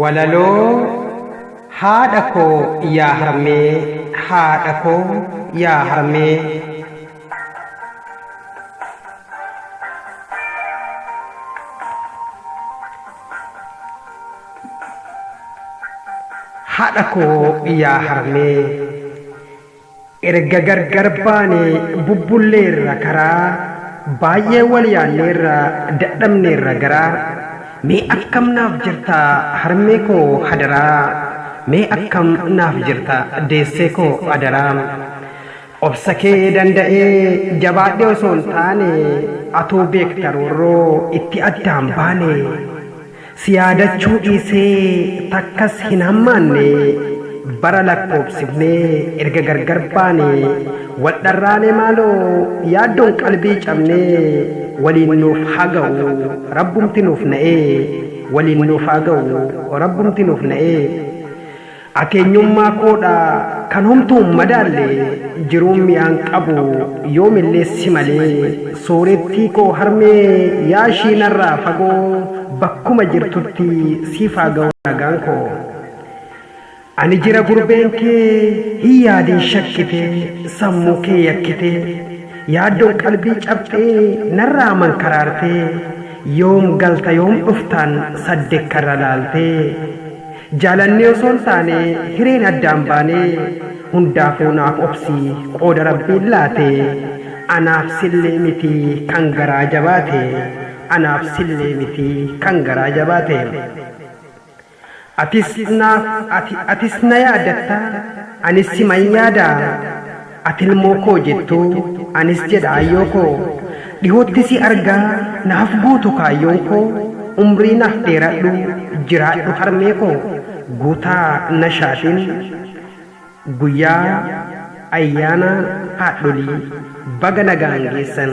Walaloo Haadha koo yaa harmee Haadha koo yaa harmee. Haadha koo yaa harmee. Erga gargar baanee bubbulleerra karaa Baay'ee wal yaanneerra dadhabneerra garaa Mee akkam naaf jirta harmee koo hadaraa Mee akkam naaf jirta deessee koo adaraa Obsa kee danda'ee jabaadhee osoon taane Atuu beekta roorroo itti addaan baane Si yaadachuu dhiisee takkas hin hammaanne Bara lakkoobsifnee erga gargar baane Wal dharraane maaloo yaaddoon qalbii cabnee Waliin nuuf haa ga'u rabbumti nuuf na'ee Waliin nuuf haa ga'u rabbumti nuuf na'ee. Akeenyummaa koo dha kan homtuu hin madaalle Jiruun mi'aan qabu yoom illee si malee Soorettii koo harmee yaa ishii narraa fagoo Bakkuma jirtutti siif haa ga'u nagaan koo Ani jira gurbeen kee hin yaadin shakkite Sammuu kee yakkite Yaaddoon qalbii cabxee narraa mankaraarte Yoom galta yoom dhuftaan saddekkarra laaltee Jaalannee osoo hin taane hireen addaan baane Hundaafuu naaf obsi qooda Rabbiin laate Anaaf sillee miti kan garaa jabaate Anaaf sillee miti kan garaa jabaate Atis naaf ati atis na yaadatta anis siman yaada Ati ilmoo koo jettu, anis jedha aayyoo koo. Dhihootti si argaa, naaf guutu kaayyoon koo. Umrii naaf dheeradhu, jiraadhu harmee koo. Guutaa Nashaatiin Guyyaa Ayyaana Haadholii Baga Nagaan Geessan!